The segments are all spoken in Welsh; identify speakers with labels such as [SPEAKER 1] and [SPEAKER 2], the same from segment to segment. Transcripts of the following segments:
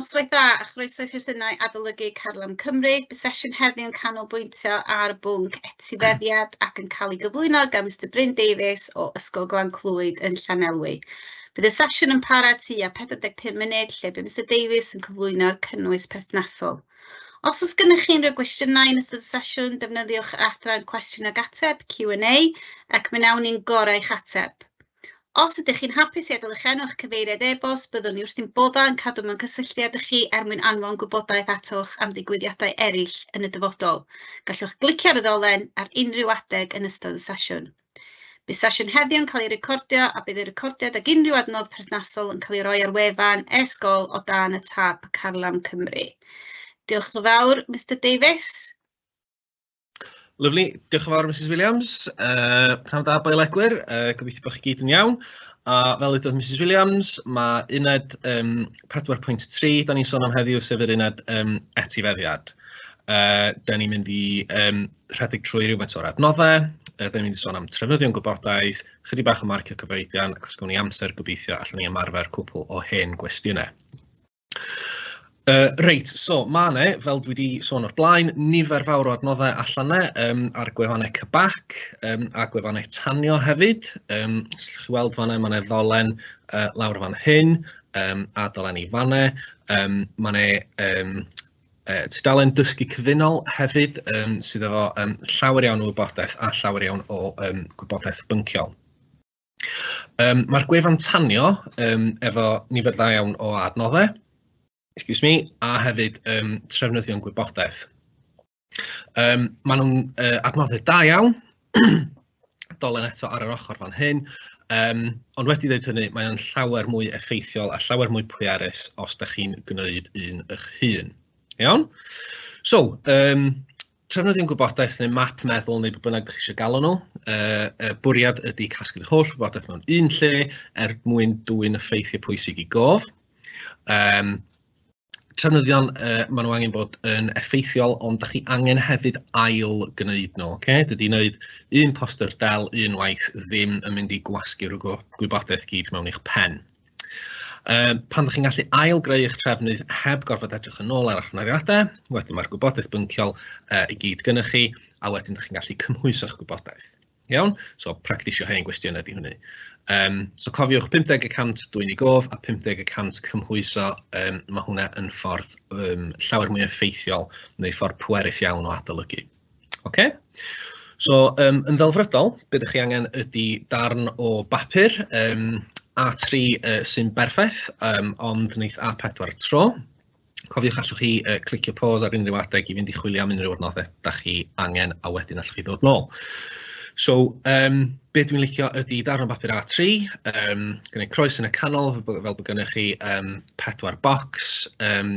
[SPEAKER 1] Noswaith dda a chroeso i sesiynau Adolygu Carlam Cymru. Bydd sesiwn heddiw yn canolbwyntio ar bwnc etifeddiad ac yn cael ei gyflwyno gan Mr Bryn Davies o Ysgol Glan Clwyd yn Llanelwy. Bydd y sesiwn yn para tua 45 munud lle bydd Mr Davies yn cyflwyno'r cynnwys perthnasol. Os oes gennych chi unrhyw gwestiynau yn ystod y sesiwn, defnyddiwch yr adran cwestiwn ag ateb, Q&A, ac mi wnawn ni'n gorau eich ateb. Os ydych chi'n hapus i adael eich enw a'ch cyfeiriad e-bost, byddwn ni wrthi'n bodda yn cadw mewn cysylltiad â chi er mwyn anfon gwybodaeth atoch am ddigwyddiadau eraill yn y dyfodol. Gallwch glicio ar y ddolen ar unrhyw adeg yn ystod y sesiwn. Bydd sesiwn heddiw yn cael ei recordio a bydd y recordiad ag unrhyw adnodd perthnasol yn cael ei roi ar wefan e-sgol o dan y tab Carlam Cymru. Diolch yn fawr, Mr Davies.
[SPEAKER 2] Lyfli, diolch yn fawr Mrs Williams. Uh, Pnawn da boel egwyr, uh, gobeithio bod chi gyd yn iawn. A fel ydodd Mrs Williams, mae uned um, 4.3, da ni'n sôn am heddiw, sef yr uned um, etifeddiad. Uh, da ni'n mynd i um, rhedeg trwy rhywbeth o'r adnoddau, uh, da ni'n mynd i sôn am trefnyddion gwybodaeth, chydig bach o marcio cyfoedion, ac os gwni amser gobeithio allan ni ymarfer cwpl o hen gwestiynau. Yy reit, so ma' 'na, fel dwi 'di sôn o'r blaen, nifer fawr o adnoddau allan 'na yym ar gwefannau CBAC yym a gwefannau tanio hefyd, yym os allwch chi weld fanna ma' 'na ddolen yy lawr fan hyn yym a dolen i fan 'na, yym ma' 'na yym yy tudalen dysgu cyfunol hefyd yym sydd efo yym llawer iawn o wybodaeth a llawer iawn o yym gwybodaeth bynciol. Yym ma'r gwefan tanio yym efo nifer dda iawn o adnoddau, excuse me, a hefyd yym trefnyddion gwybodaeth. Yym maen nhw'n yy adnoddau da iawn, dolen eto ar yr ochr fan hyn, yym ond wedi dweud hynny mae o'n llawer mwy effeithiol a llawer mwy pwerus os da chi'n gwneud un eich hun. Iawn? So yym Tra nad yw'n gwybodaeth neu map meddwl neu be bynnag dach chi isio galw nhw, yy y bwriad ydy casglu'r holl wybodaeth mewn un lle er mwyn dwyn y ffeithiau pwysig i gof. Um, trefnyddion, uh, maen nhw angen bod yn effeithiol, ond da chi angen hefyd ail gwneud nhw. Okay? Dydy wneud un poster del unwaith ddim yn mynd i gwasgu'r gwybodaeth gyd mewn eich pen. Yym pan ydych chi'n gallu ail-greu eich trefnydd heb gorfod edrych yn ôl ar eich ymholiadau, wedyn mae'r gwybodaeth bynciol yy i gyd gynnoch chi, a wedyn dych chi'n gallu cymhwyso'ch gwybodaeth. Iawn? So practisio hen gwestiynau ydy hynny. Um, so cofiwch 50 y cant dwi'n ei gof a 50 y cant cymhwyso, um, mae hwnna yn ffordd um, llawer mwy effeithiol neu ffordd pwerus iawn o adolygu. Ocê, so yym yn ddelfrydol be dach chi angen ydy darn o bapur yym A3 yy sy'n berffaith yym ond neith A4 tro. Cofiwch allwch chi yy clicio pause ar unrhyw adeg i fynd i chwilio am unrhyw adnoddau dach chi angen a wedyn allwch chi ddod nôl. So yym be dwi'n licio ydy darn o bapur A3 yym gwneud croes yn y canol fel bod gennych chi yym pedwar bocs yym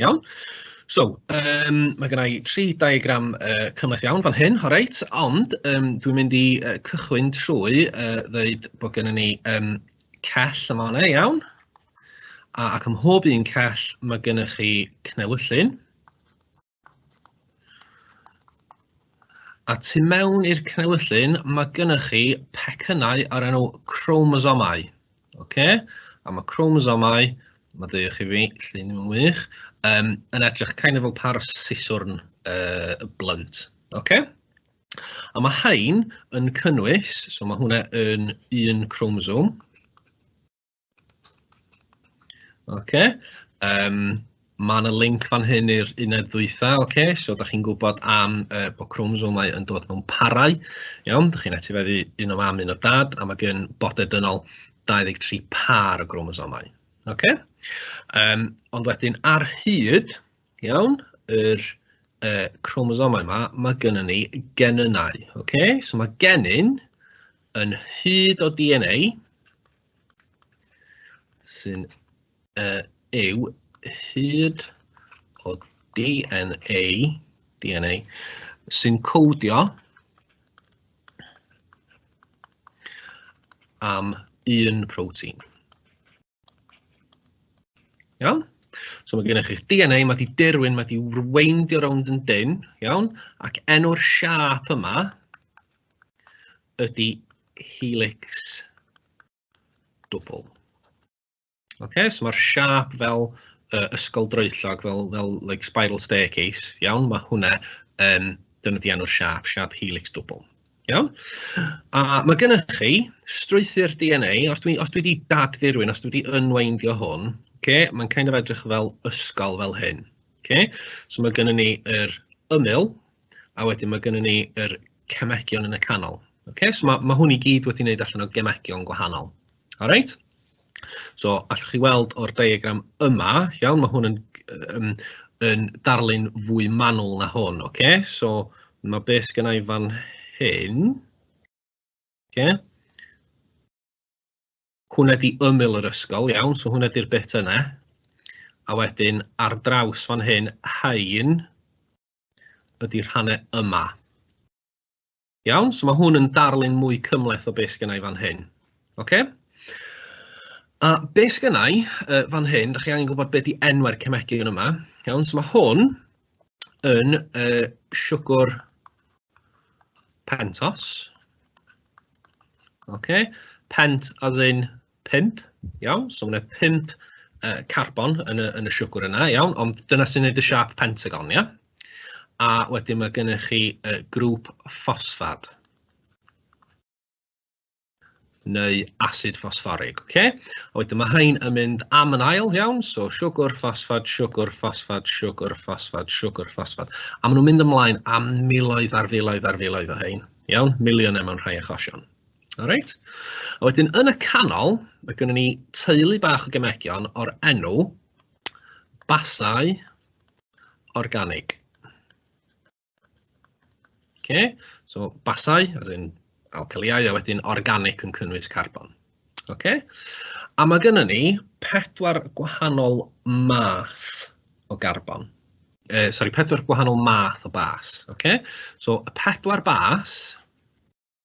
[SPEAKER 2] Iawn, so yym ma' gynna i tri diagram yy cymhleth iawn fan hyn, reit, ond yym dwi'n mynd i yy cychwyn trwy yy ddeud bod gynnon ni yym cell yn fan'na iawn, a ac ym mhob un cell ma' gynnoch chi cnewyllyn, a tu mewn i'r cnewyllyn ma' gynnoch chi pecynnau o'r enw chromosomau. OK, a mae chromosomau, mae ddeio chi fi, lle ni'n wych, um, yn edrych kind of fel par siswrn uh, blunt. OK? A mae hain yn cynnwys, so mae hwnna yn un chromosome. OK? Um, Mae yna linc fan hyn i'r uned ddwytha, ocê, so dach chi'n gwybod am yy bod cromosomes yn dod mewn parau, iawn, dach chi'n etifeddu un o fam, un o dad, a mae gen bodau dynol 23 pâr o gromosomes, ocê. Yym ond wedyn ar hyd, iawn, yr yy cromosomes 'ma, mae gynnon ni genynnau, ocê, so mae genyn yn hyd o DNA sy'n uh, yw hyd o DNA, DNA sy'n codio am un protein. Iawn? So mae gennych chi'ch DNA, mae di dirwyn, mae di rweindio rownd yn dyn, iawn? Ac enw'r siap yma ydy helix dwbl. Okay, so mae'r siap fel uh, ysgol droellog, fel, fel like spiral staircase, iawn, mae hwnna yn um, defnyddio enw'r siap, siap helix dwbl. Iawn? A mae gennych chi strwythyr DNA, os dwi, os dwi wedi dadfurwyn, os dwi wedi unweindio hwn, okay, mae'n kind of edrych fel ysgol fel hyn. Okay? So mae gennym ni yr ymyl, a wedyn mae gennym ni yr cemegion yn y canol. Okay? So mae, mae hwn i gyd wedi wneud allan o gemegion gwahanol. All right so allwch chi weld o'r diagram yma, iawn, mae hwn yn yym yn darlun fwy manwl na hwn, oce? So ma' be' sgynna' i fan hyn, oce, hwnna 'di ymyl yr ysgol, iawn, so hwnna 'di'r bit yna. A wedyn ar draws fan hyn, rhain ydi rhannau yma. Iawn, so mae hwn yn darlun mwy cymhleth o beth sgynna i fan hyn. OK? A beth sgynna i uh, fan hyn, da chi angen gwybod beth di enwau'r cemegion yma. Iawn, so mae hwn yn uh, siwgwr pentos. OK? Pent as in pump, iawn, so mae yna pump uh, carbon yn y, yn y siwgr yna, iawn, ond dyna sy'n gwneud y siap pentagon, ia? A wedyn mae gennych chi uh, grŵp ffosffad neu acid ffosfforig. Okay? A wedyn mae hyn yn mynd am yn ail iawn, so siwgr, ffosffad, siwgr, ffosffad, siwgr, ffosffad, siwgr, ffosffad. A maen nhw'n mynd ymlaen am miloedd ar filoedd ar filoedd o hyn. Iawn, miliynau mewn rhai achosion. Reit, a wedyn yn y canol, ma' gynnon ni teulu bach o gemegion o'r enw basai organig. Oce, so basai, as in alcaliau, a wedyn organic yn cynnwys carbon. Oce, a ma' gynnon ni pedwar gwahanol math o garbon. Uh, sori, pedwar gwahanol math o bas, oce? So y pedwar bas,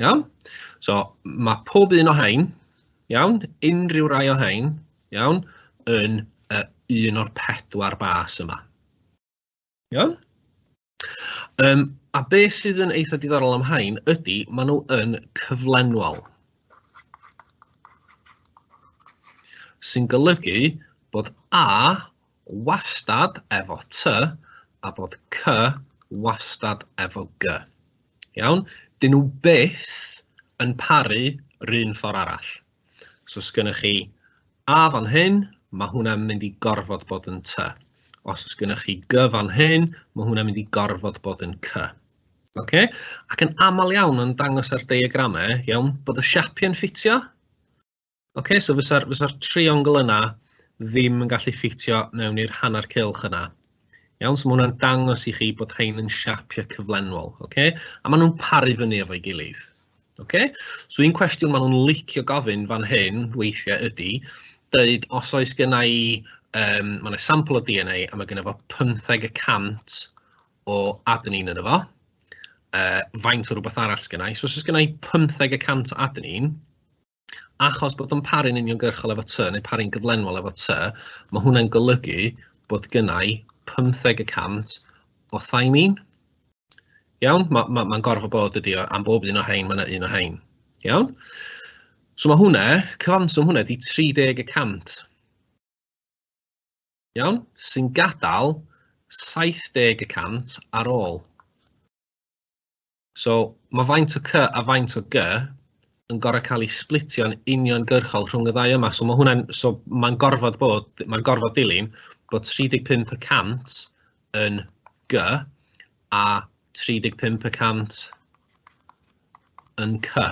[SPEAKER 2] Iawn? So, mae pob un o hein, iawn, unrhyw rai o hein, iawn, yn uh, un o'r pedwar bas yma. Iawn? Um, a be sydd yn eitha diddorol am hain ydy, maen nhw yn cyflenwol. Sy'n golygu bod A wastad efo ty a bod cy wastad efo gy. Iawn? Dyn nhw byth yn paru rhywun ffordd arall. So os gennych chi a fan hyn, mae hwnna'n mynd i gorfod bod yn ty. Os os gennych chi gy fan hyn, mae hwnna'n mynd i gorfod bod yn cy. Okay? Ac yn aml iawn yn dangos ar diagramau, iawn, bod y siapiau'n ffitio, Ocê, so fysa'r fysa triongl yna ddim yn gallu ffitio mewn i'r hanner cylch yna. Iawn, so mae hwnna'n dangos i chi bod hein yn siapio cyflenwol, okay? a maen nhw'n paru fyny efo'i gilydd. Okay? So un cwestiwn maen nhw'n licio gofyn fan hyn weithiau ydy, dweud os oes gynna i, um, mae yna sampl o DNA a mae gynna fo 15 y cant o adenine yn efo, uh, faint o rhywbeth arall sgynnau. So os oes gynna i 15 y cant o adenine, achos bod o'n paru'n uniongyrchol efo tŷ neu paru'n gyflenwol efo tŷ, mae hwnna'n golygu bod gynnau 15 y cant o thai ni'n. Iawn, mae'n ma, ma gorfod bod ydi o, am bob un o hein, mae yna un o hein. Iawn? So mae hwnna, cyfanswm hwnna di 30 y cant. Iawn? Sy'n gadael 70 y cant ar ôl. So, mae faint o cy a faint o gy yn gorau cael ei splitio'n uniongyrchol rhwng y ddau yma. So mae hwnna'n, so mae'n gorfod bod, mae'n gorfod dilyn bod 35 y cant yn gy a 35 y cant yn cy.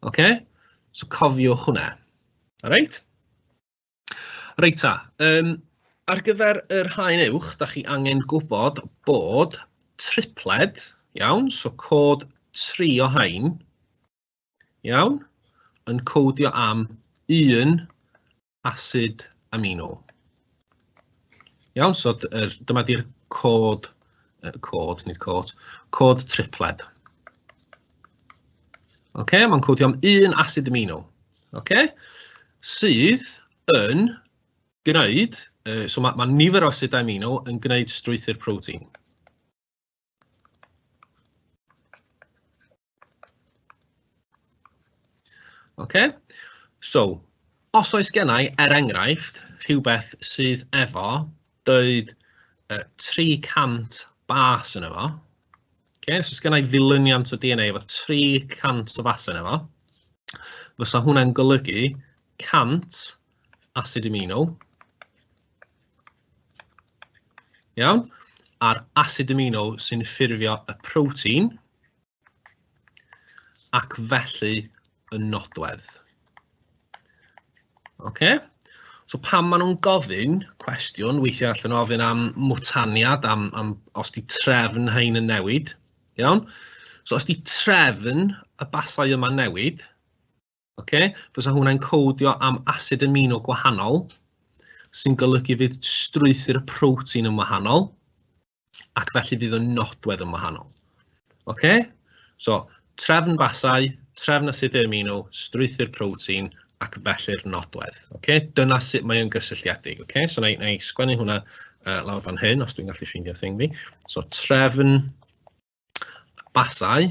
[SPEAKER 2] OK? So cofiwch hwnna. Alright? Reit ta, yym ar gyfer yr haen uwch, dach chi angen gwybod bod tripled, iawn, so cod tri o haen, iawn, yn codio am un asid amino. Iawn, so er, dyma di'r cod, uh, cod, nid cod, cod tripled. OK, mae'n codio am un asid amino. Ocê, sydd yn gwneud, yy so ma' ma' nifer o asedau amino yn gwneud strwythur protein. Ocê, so os oes gennai, er enghraifft, rhywbeth sydd efo Doedd uh, 300 bas yn efo. Okay, so sgynna i ddilyniant o DNA efo 300 o bas yn efo. Fysa hwnna'n golygu 100 acid amino. Iawn? A'r acid amino sy'n ffurfio y protein ac felly y nodwedd. OK? So pan maen nhw'n gofyn cwestiwn, weithiau allan nhw ofyn am mwtaniad, am, am os di trefn hyn yn newid, iawn? So os di trefn y basau yma newid, Ok, fysa hwnna'n codio am acid amino gwahanol, sy'n golygu fydd strwythyr y protein yn wahanol, ac felly fydd y nodwedd yn wahanol. Ok, so trefn basau, trefn acid amino, strwythyr protein, ac felly'r nodwedd. Ok, dyna sut mae'n gysylltiedig. Ok, so na i, na i sgwennu hwnna uh, lawr fan hyn, os dwi'n gallu ffeindio thing fi. So trefn basau,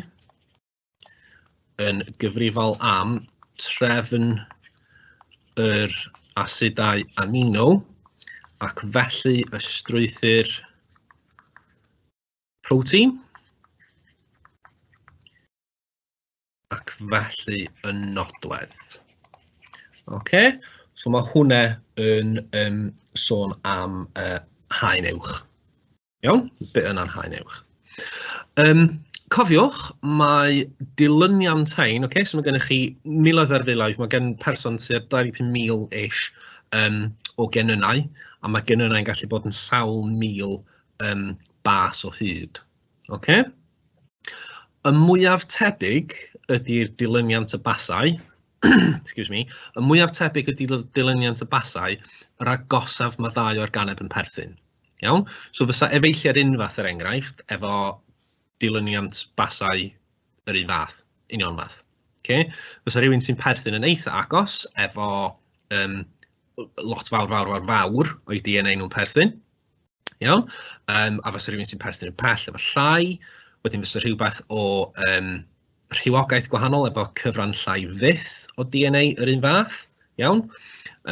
[SPEAKER 2] yn gyfrifol am trefn yr asedau amino ac felly y strwythur protein ac felly y nodwedd. OK, so mae hwnna yn um, sôn am uh, haen uwch. Iawn, be yna'n haen uwch. Um, cofiwch, mae dilyniant hain, okay, so mae gennych chi miloedd ar filoedd, mae gen person sydd 25,000 ish um, o genynnau, a mae genynnau'n gallu bod yn sawl mil um, bas o hyd. Okay? Y mwyaf tebyg ydy'r dilyniant y basau, excuse me, y mwyaf tebyg ydy dilyniant y basau, yr agosaf mae ddau o'r ganeb yn perthyn. Iawn? So fysa efeilliad unfath yr er enghraifft efo dilyniant basau yr un fath, union fath. Okay? Fysa rhywun sy'n perthyn yn eitha agos efo um, lot fawr, fawr, fawr, fawr o'i DNA nhw'n perthyn. Iawn? Yym a fysa rywun sy'n perthyn i'r pell efallai, wedyn fysa rhywbeth o yym rhywogaeth gwahanol efo cyfran llai fyth o DNA yr un fath, iawn?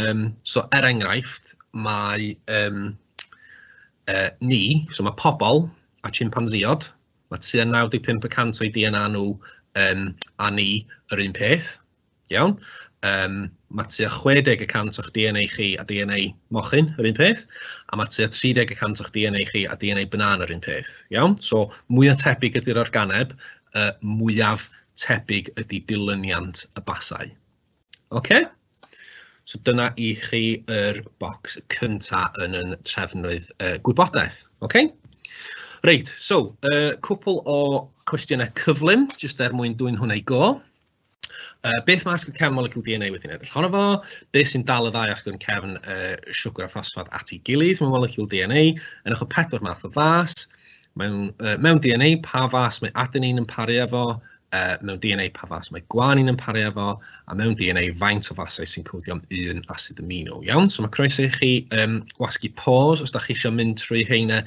[SPEAKER 2] Yym so er enghraifft, mae yym yy ni, so mae pobl a chimpanzeeod, mae tua 95% o'i DNA nhw yym a ni yr un peth, Iawn. Yym ma' tua 60 y cant o'ch DNA chi a DNA mochyn yr un peth, a ma' tua 30 y cant o'ch DNA chi a DNA banana yr un peth. Iawn? So mwya tebyg ydy'r organeb, yy mwyaf tebyg ydy dilyniant y basau. Ocê? So dyna i chi yr bocs cynta yn 'yn trefnwydd yy gwybodaeth. Ocê? Reit, so yy cwpwl o cwestiynau cyflym, jyst er mwyn dwyn hwn i go. Yy beth mae asgwrn cefn molecwl DNA wedi'n edrych ohono fo? Beth sy'n dal y ddau asgwrn cefn uh, siwgr a ffosffad at ei gilydd mewn molecwl DNA? Yn ochr pedwar math o fas. Mewn, uh, mewn DNA, pa fas mae adenine yn paru efo? Uh, mewn DNA, pa fas mae gwanin yn paru efo? A mewn DNA, faint o fasau sy'n codio am un asid amino? Iawn, so mae croeso i chi um, wasgu pause os da chi eisiau mynd trwy heina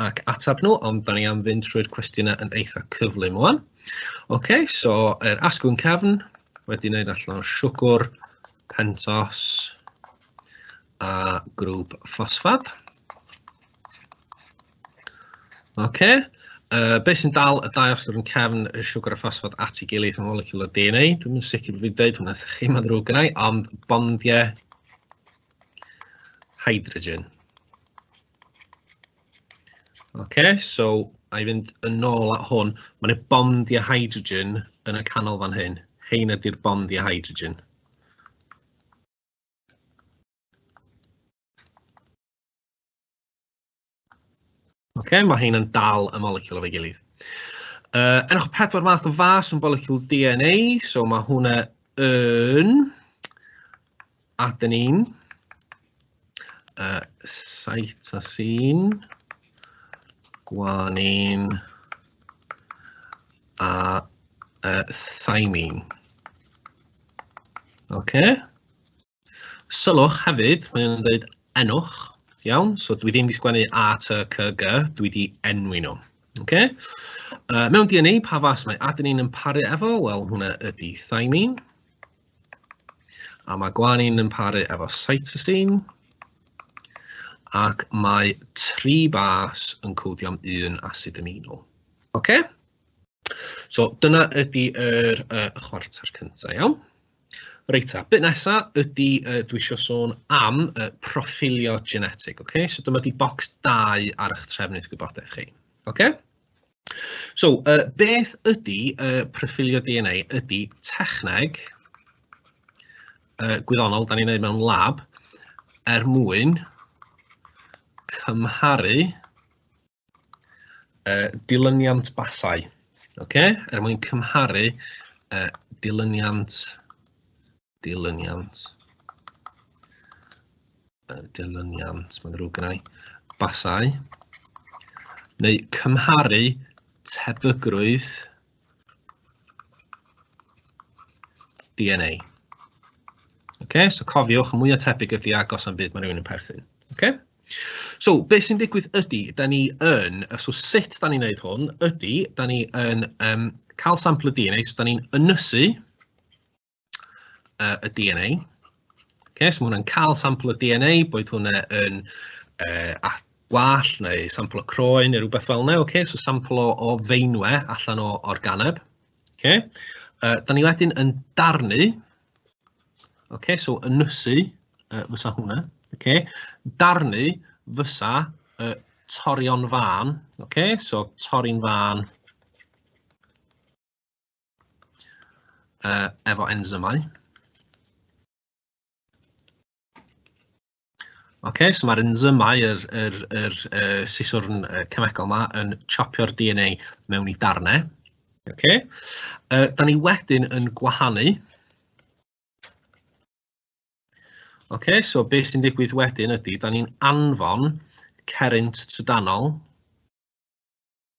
[SPEAKER 2] ac atab nhw, ond da ni am fynd trwy'r cwestiynau yn eitha cyflym o'n. Ok, so yr asgwrn cefn wedi wneud allan o'r siwgr, pentos a grŵp ffosffad. Ok, uh, beth sy'n dal y dau asgwrn cefn y siwgr a ffosffad at ei gilydd yn molecular DNA? Dwi'n mynd sicr bod fi'n dweud hwnna wrth chi, mae'n ddrwg gynnau, ond bondiau hydrogen. Oce, so a i fynd yn ôl at hwn, mae yna bond i a hydrogen yn y canol fan hyn. Hein ydy'r bond i a hydrogen. Oce, mae hein yn dal y moleciwl o'r gilydd. Uh, enwch pedwar math o fas yn moleciwl DNA, so mae hwnna yn... Aden un. Uh, site a sy'n gwan un a uh, thymine. OK. Sylwch hefyd, mae'n dweud enwch, iawn? So dwi ddim wedi sgwennu A, T, C, G, dwi wedi enwi nhw. Okay? Uh, mewn DNA, pa fas mae adenine yn paru efo? Wel, hwnna ydy thymine. A mae gwanin yn paru efo cytosine. Ac mae tri bas yn codio am un asid amino. OK? So dyna ydy yr uh, chwarter cyntaf, iawn? Reit ta, bit nesa ydy uh, dwi eisiau sôn am uh, proffilio genetic, OK? So dyma di bocs 2 ar eich trefnydd gwybodaeth chi, OK? So, uh, beth ydy uh, proffilio DNA? Ydy techneg uh, gwyddonol, da ni'n ei mewn lab, er mwyn cymharu uh, dilyniant basau. Okay? Er mwyn cymharu uh, dilyniant dilyniant, dilyniant, mae'n rhyw gynnau, basau, neu cymharu tebygrwydd DNA. Okay, so cofiwch, mwy o tebyg ydy agos am byd mae rhywun yn perthyn. Okay? So, beth sy'n digwydd ydy, da ni yn, so sut da ni'n gwneud hwn, ydy, da ni yn um, cael sampl y DNA, so da ni'n ynysu, uh, y DNA. Okay, so mae hwnna'n cael sampl o DNA, boed hwnna yn uh, gwall neu sampl o croen neu rhywbeth fel yna. Okay, so sampl o, o feinwe allan o organeb. Okay. Uh, da ni wedyn yn darnu, okay, so ynysu uh, fysa hwnna, okay. darnu fysa uh, torion fan, okay, so tori'n fan uh, efo enzymau. okay, so mae'r enzymau, yr, yr, yr, yr siswrn cemegol yma yn chopio'r DNA mewn i darnau. Okay. Uh, da ni wedyn yn gwahanu. Okay, so beth sy'n digwydd wedyn ydy, da ni'n anfon cerrynt trydanol.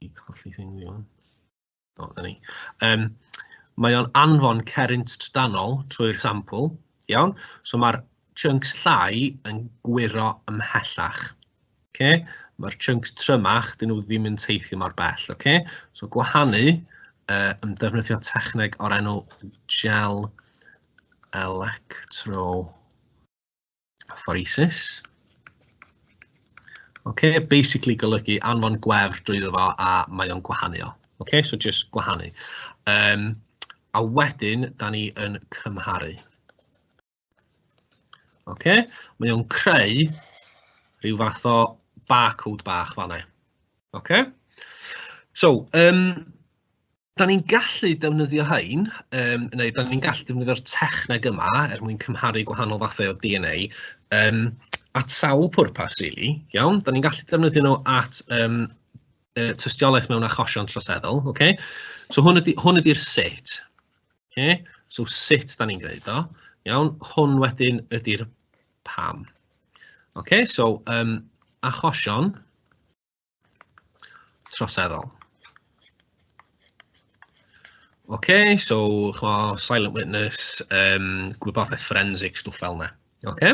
[SPEAKER 2] I colli thing fi fan. O, da ni. Um, mae o'n anfon cerrynt trydanol trwy'r sampl, iawn? So mae'r chunks llai yn gwyro ymhellach. Okay? Mae'r chunks trymach, dyn nhw ddim yn teithio mor bell. Okay? So gwahanu uh, yn defnyddio techneg o'r enw gel electro Phoresis. Okay, basically golygu anfon gwefr drwyddo fo a mae o'n gwahanu o. Okay, so just gwahanu. Um, a wedyn, da ni yn cymharu. Okay, mae o'n creu rhyw fath o barcode bach fanna. Okay? So, um, Da ni'n gallu defnyddio hein, um, neu da ni'n gallu defnyddio'r techneg yma er mwyn cymharu gwahanol fathau o DNA um, at sawl pwrpas, really. Iawn, da ni'n gallu defnyddio nhw at um, uh, tystiolaeth mewn achosion troseddol. Okay? So hwn ydy'r hwn ydy sut. Okay? So sut da ni'n gwneud o. Iawn, hwn wedyn ydy'r pam. Okay, so um, achosion troseddol. OK, so chmo, silent witness, um, gwybodaeth forensic, stwff fel yna. OK?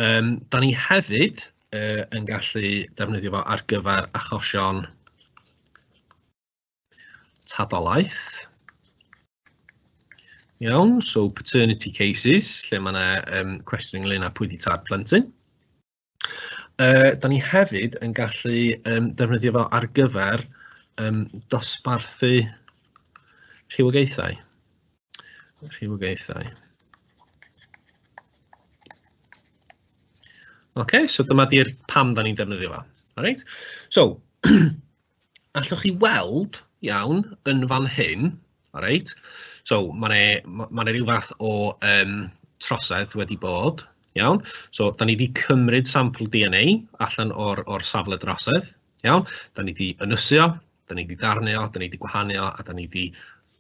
[SPEAKER 2] Um, da ni hefyd uh, yn gallu defnyddio fo ar gyfer achosion tadolaeth. Iawn, so paternity cases, lle mae yna um, cwestiwn ynglyn â pwy di tad plentyn. Yy dan ni hefyd yn gallu yym defnyddio fo ar gyfer yym dosbarthu rhywogaethau rhywogaethau. Ocê so dyma 'di'r pam dan ni'n defnyddio fo. Reit so allwch chi weld, iawn, yn fan hyn, alright, so ma' 'ne ma' ma' 'ne ryw fath o yym trosedd wedi bod, iawn, so 'dan ni 'di cymryd sampl DNA allan o'r o'r safle drosedd, iawn, 'dan ni 'di ynysu o, 'dan ni 'di darnu o, 'dan ni 'di gwahanu o, a 'dan ni 'di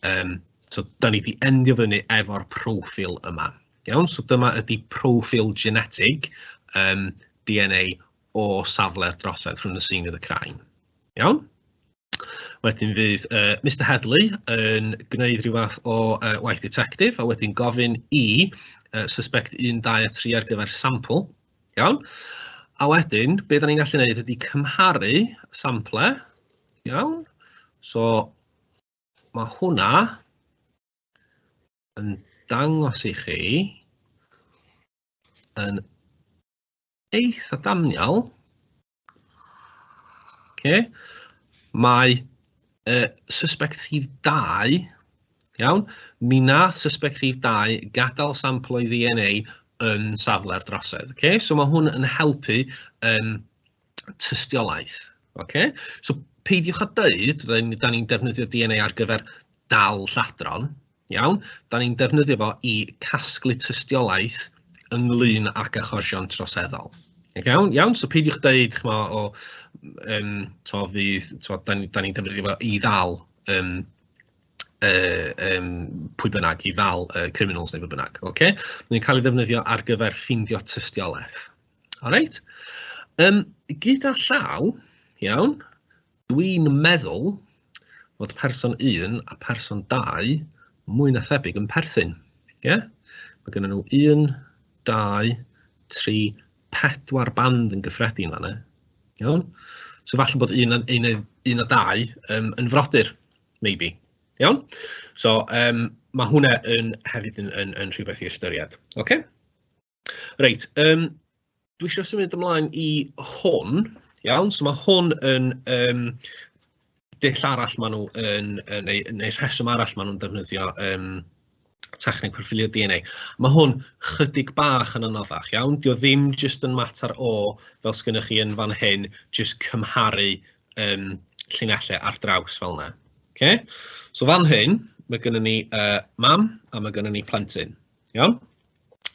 [SPEAKER 2] yym so 'dan ni 'di endio fyny efo'r proffil yma, iawn, so dyma ydi proffil genetig yym DNA o safle'r drosedd rhwng y seinedd y crain. Iawn? Wedyn fydd uh, Mr Headley yn gwneud rhyw fath o uh, waith detective a wedyn gofyn i uh, suspect 1, 2 a 3 ar gyfer sampl. Iawn? A wedyn, be da ni'n gallu gwneud ydy cymharu sample. Iawn? So, mae hwnna yn dangos i chi yn eitha daniol. Okay. Mae uh, suspect rhif 2, iawn, mi nath suspect rhif 2 gadael sampl o'i DNA yn safle'r drosedd. Okay? So mae hwn yn helpu um, tystiolaeth. Okay? So peidiwch â dweud, da ni'n defnyddio DNA ar gyfer dal lladron, Iawn, da ni'n defnyddio fo i casglu tystiolaeth ynglyn ag achosion troseddol. Iawn, iawn, so peidiwch dweud, chmo, o, um, to, fydd, to, da ni'n ni defnyddio fo i ddal um, uh, um, pwy bynnag, i ddal uh, criminals neu pwy bynnag. Okay? Mae'n cael ei ddefnyddio ar gyfer ffindio tystiolaeth. Alright? Um, gyda llaw, iawn, Dwi'n meddwl fod person 1 a person 2 mwy na thebyg yn perthyn. Ie? Yeah? Mae gennym nhw 1, 2, 3, 4 band yn gyffredin fanna. Iawn? So falle bod un, un, un a dau um, yn frodyr, maybe. Iawn? So um, mae hwnna yn, hefyd yn, yn, yn rhywbeth i ystyried. Okay? Reit, yym dwi isio symud ymlaen i hwn, iawn, so ma' hwn yn yym dull arall maen nhw yn yy neu neu rheswm arall maen nhw'n defnyddio yym techneg proffilio DNA. Ma' hwn chydig bach yn anoddach, iawn, 'di o ddim jyst yn mater o, fel sgynnoch chi yn fan hyn, jyst cymharu yym llinellau ar draws fel 'na. Ocê, so fan hyn, ma' gynnon ni yy mam a ma' gynnon ni plentyn. Iawn?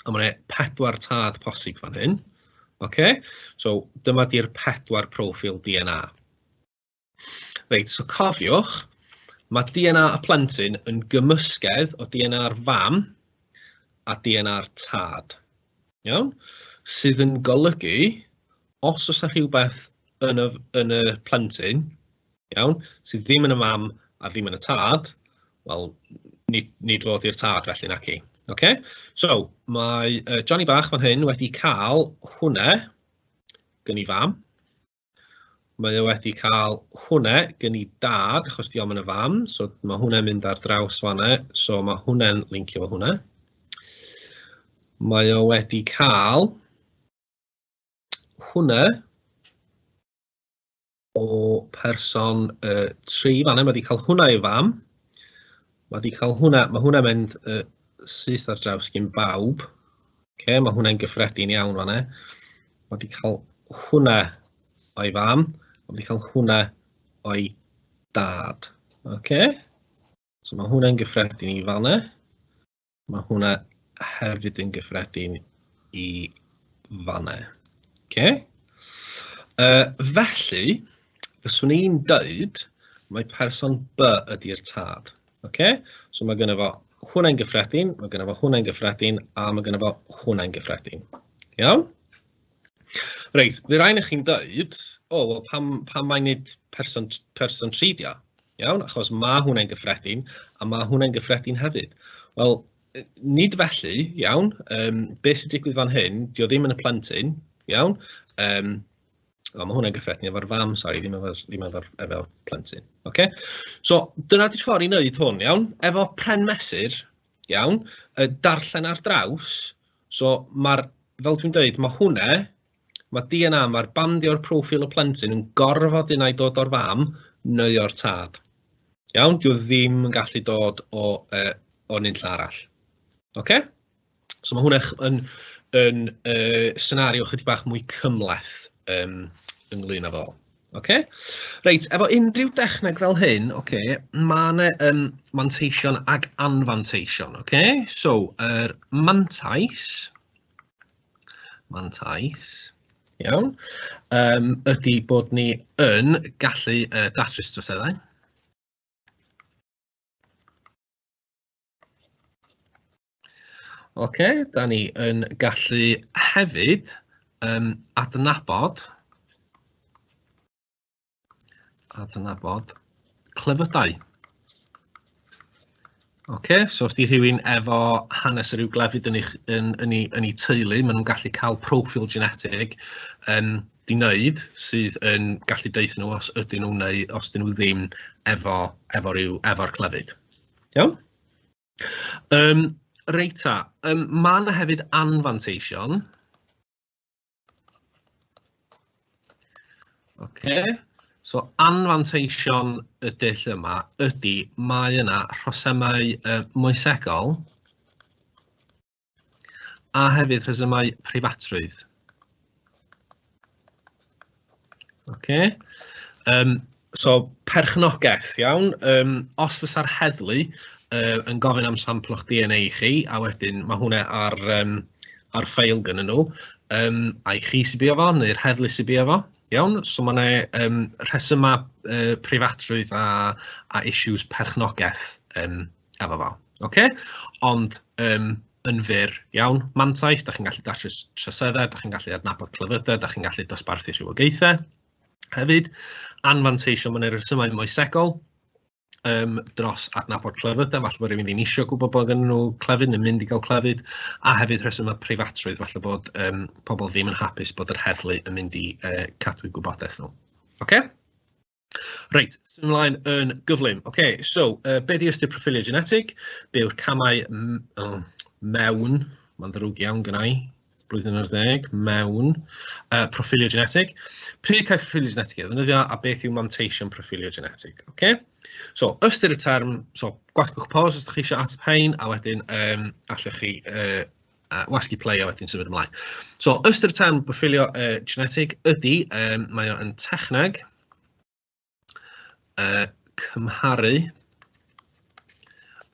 [SPEAKER 2] A mae 'na pedwar tad posib fan hyn. Ocê? So dyma 'di'r pedwar proffil DNA. Reit, so cofiwch, mae DNA y plentyn yn gymysgedd o DNA'r fam a DNA'r tad. Iawn? Sydd yn golygu, os oes 'na rhywbeth yn y, yn y plentyn, iawn, sydd ddim yn y mam a ddim yn y tad, wel, nid nid fo ydy'r tad felly naci. Ocê? So, mae yy Johnny bach fan hyn wedi cael hwnna gyn ei fam. Mae o wedi cael hwnna gyn ei dad, achos di o'm yn y fam, so mae hwnna'n mynd ar draws fanna, so mae hwnna'n lincio fo hwnna. Mae o wedi cael hwnna o person uh, tri fan yma, wedi cael hwnna i fam. Mae wedi cael hwnna, mae hwnna mynd uh, syth ar draws gyn bawb. Okay, mae hwnna'n gyffredin iawn fan e. Mae wedi cael hwnna o'i fam, mae wedi cael hwnna o'i dad. Okay. So mae hwnna'n gyffredin i fan e. Mae hwnna hefyd yn gyffredin i fannau. Okay. Uh, felly, fyswn i'n dweud mae person B ydy'r tad. Okay? So mae gennym fo hwnna'n gyffredin, mae gennym fo hwnna'n gyffredin, a mae gennym fo hwnna'n gyffredin. Iawn? Reit, fydd rhain i chi'n deud, "o wel pam pam mai nid person t- person tri 'di o?" Iawn, achos ma' hwnna'n gyffredin, a ma' hwnna'n gyffredin hefyd. Wel, yy nid felly, iawn, yym be sy'n digwydd fan hyn, 'di o ddim yn y plentyn, iawn, yym o ma' hwnna'n gyffredin efo'r fam, sori, ddim efo'r ddim efo'r efo'r plentyn, ocê? So dyna 'di'r ffor' i wneud hwn, iawn, efo pren mesur, iawn, yy darllen ar draws, So ma'r... fel dwi'n deud, ma' hwnna, ma' DNA, ma'r bandio'r proffil y plentyn yn gorfod unai dod o'r fam neu o'r tad. Iawn? Dyw e ddim yn gallu dod o yy o nunlle arall. Ocê? So ma' hwnna yn yn yy senario chydig bach mwy cymhleth yym ynglŷn â fo. Ocê, reit, efo unrhyw dechneg fel hyn, ocê, mae yna yym manteision ac anfanteision, ocê? So, yr er mantais, mantais, iawn, um, ydy bod ni yn gallu uh, datrys troseddau. OK, da ni yn gallu hefyd um, adnabod adnabod clefydau. OK, so os di rhywun efo hanes yr i'w glefyd yn, eich, yn, yn, ei, yn ei teulu, maen nhw'n gallu cael profil genetig um, di wneud sydd yn gallu deuth nhw os ydyn nhw neu os dyn nhw ddim efo, efo, efo, efo clefyd. Iawn? Yym reit ta, yym ma' 'na hefyd anfanteision. Ocê, so anfanteision y dull yma ydy mae yna rhosymau yy moesegol. a hefyd rhesymau preifatrwydd. Okay. Um, so, perchnogaeth, iawn. Um, os fysa'r heddlu uh, yn gofyn am sampl o'ch DNA i chi, a wedyn mae hwnna ar, um, ar ffeil gyda nhw, um, a'i chi sy'n bio fo, neu'r heddlu sy'n bio fo, iawn. So mae yna um, rhesymau uh, preifatrwydd a, a issues perchnogaeth um, a bob man, ocê? Ond yym yn fyr iawn, mantais, dach chi'n gallu datrys troseddau, dach chi'n gallu adnabod clefydau, dach chi'n gallu dosbarthu rhywogaethau hefyd. Anfanteision mewn elusennau moesegol um, dros adnabod clefydau, falle bod rhywun ddim eisiau gwybod bod gen nhw clefyd neu mynd i gael clefyd, a hefyd rhesymau preifatrwydd, falle bod um, pobl ddim yn hapus bod yr heddlu yn mynd i uh, cadw gwybodaeth nhw. Okay? Reit, symud ymlaen yn gyflym. Ok, so uh, be di ystyr profilio genetig? Be yw'r camau oh, mewn, mae'n ddrwg iawn gyda i, blwyddyn ar ddeg, mewn uh, profilio genetig. Pryd cael profilio genetig ei ddefnyddio a beth yw manteision profilio genetig. Ok, so ystyr y term, so gwasgwch pos os ydych chi eisiau ateb hein a wedyn um, allwch chi uh, a wasgu play a wedyn symud ymlaen. So, ystyr tan byffilio uh, genetig ydy, um, mae o yn techneg, uh, cymharu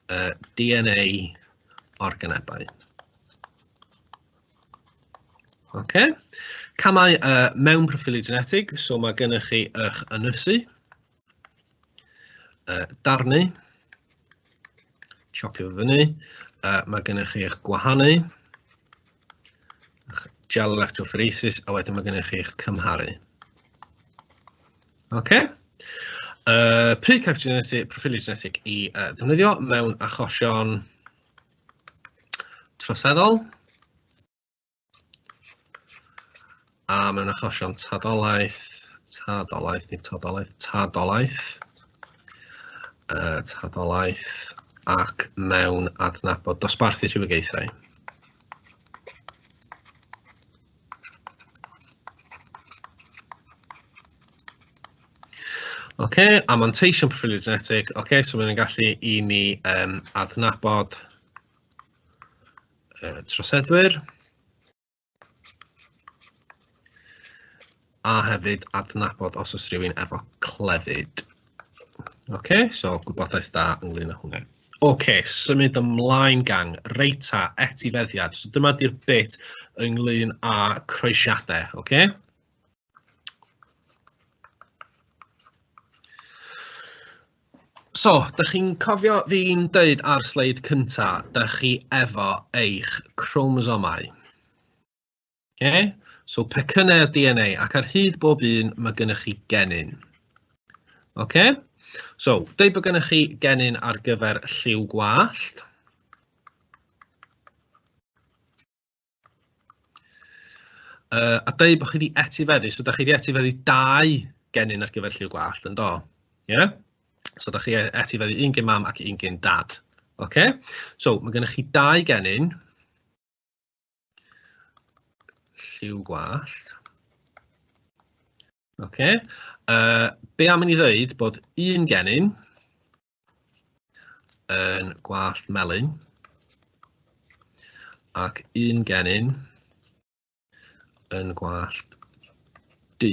[SPEAKER 2] uh, DNA organebau. Okay. Camau uh, mewn proffili genetig, so mae gennych chi eich ynysu, Yy darnu, tsopio fo fyny, yy ma' gennych chi eich gwahanu, gel electrophoresis, a wedyn mae gennych chi'ch cymharu. OK. Uh, pryd cael genetic, proffiliau genetic i uh, ddefnyddio mewn achosion troseddol. A mae'n achosion tadolaeth, tadolaeth, nid tadolaeth, tadolaeth, uh, tadolaeth ac mewn adnabod dosbarthu rhywogaethau. OK, a manteision proffilio genetig. OK, so mae'n gallu i ni um, adnabod yy troseddwyr, a hefyd adnabod os oes rhywun efo clefyd. OK, so gwybodaeth da ynglyn â hwnna. OK, symud ymlaen gang, reita, etifeddiad. So dyma di'r bit ynglyn â croesiadau, OK? So, dach chi'n cofio fi'n deud ar sleid cynta, dach chi efo eich chromosomau. Okay? So, pecynnau o DNA, ac ar hyd bob un mae gennych chi genyn. Okay? So, deud bod gennych chi genyn ar gyfer lliw gwallt. Uh, a dweud bod chi wedi etifeddu, so da chi wedi etifeddu dau genyn ar gyfer lliw gwallt, yn do? Ie? Yeah? So da chi e-, etifeddu un gen mam ac un gen dad. Oce? Okay? So mae gennych chi dau genyn. Lliw gwallt. Oce? Okay? Uh, be am i ni ddweud bod un genyn yn gwallt melyn ac un genyn yn gwallt du.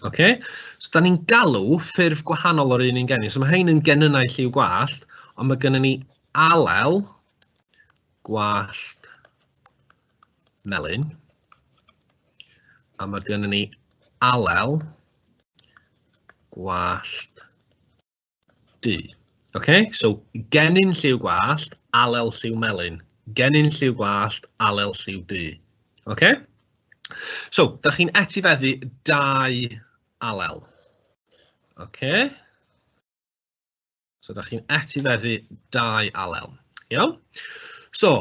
[SPEAKER 2] Okay? So, da ni'n galw ffurf gwahanol o'r un un genyn. So, mae hein yn genynnau lliw gwallt, ond mae gennym ni alel gwallt melyn, a mae gennym ni alel gwallt Du. OK, so gennin lliw gwallt, alel lliw melyn. Gennin lliw gwallt, alel lliw du. OK? So, da chi'n etifeddu dau alel. OK? So, da chi'n etifeddu dau alel. Iawn? So,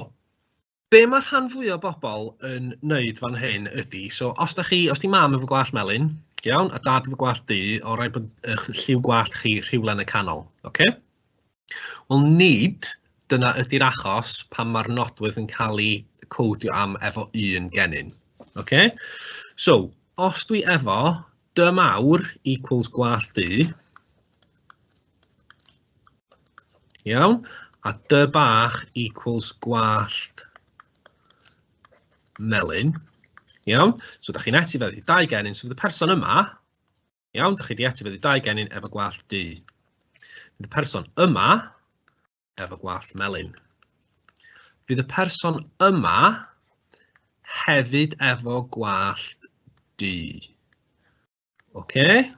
[SPEAKER 2] be mae rhan fwy o bobl yn wneud fan hyn ydy, so os da chi, os di mam efo gwallt melyn, iawn, a dad efo gwallt du, o rai bod eich lliw gwallt chi rhywle yn y canol, oce? Okay? Wel, nid dyna ydy'r achos pan mae'r nodwydd yn cael ei codio am efo un genyn, oce? Okay? So, os dwi efo dymawr equals gwallt du, Iawn, a dy bach equals gwallt melyn. Iawn, so da chi'n etifeddu dau genyn, so fydd y person yma, iawn, da chi wedi etifeddu dau genyn efo gwallt du. Fydd y person yma efo gwallt melyn. Fydd y person yma hefyd efo gwallt du. Okay.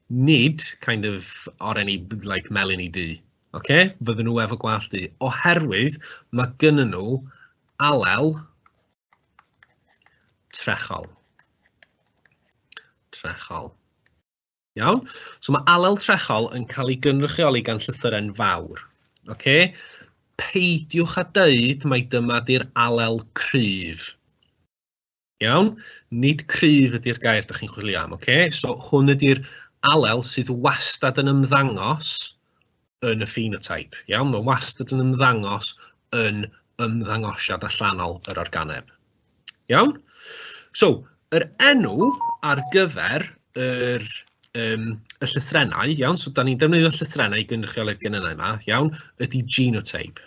[SPEAKER 2] Nid kind of oren i like melyn i du. Okay. Fydden nhw efo gwallt du. Oherwydd mae gynnyn nhw alel trechol. Trechol. Iawn? So mae alel trechol yn cael ei gynrychioli gan llythyren fawr. Okay? Peidiwch a dweud mae dyma di'r alel cryf. Iawn, nid cryf ydy'r gair ydych chi'n chwilio am, oce? Okay? So hwn ydy'r alel sydd wastad yn ymddangos yn y phenotype. Iawn, mae'n wastad yn ymddangos yn ymddangosiad allanol yr organeb. Iawn? So, yr enw ar gyfer yr, um, y llythrenau, iawn, so da ni'n defnyddio llythrenau i gynrychioli'r genynau yma, iawn, ydy genotype.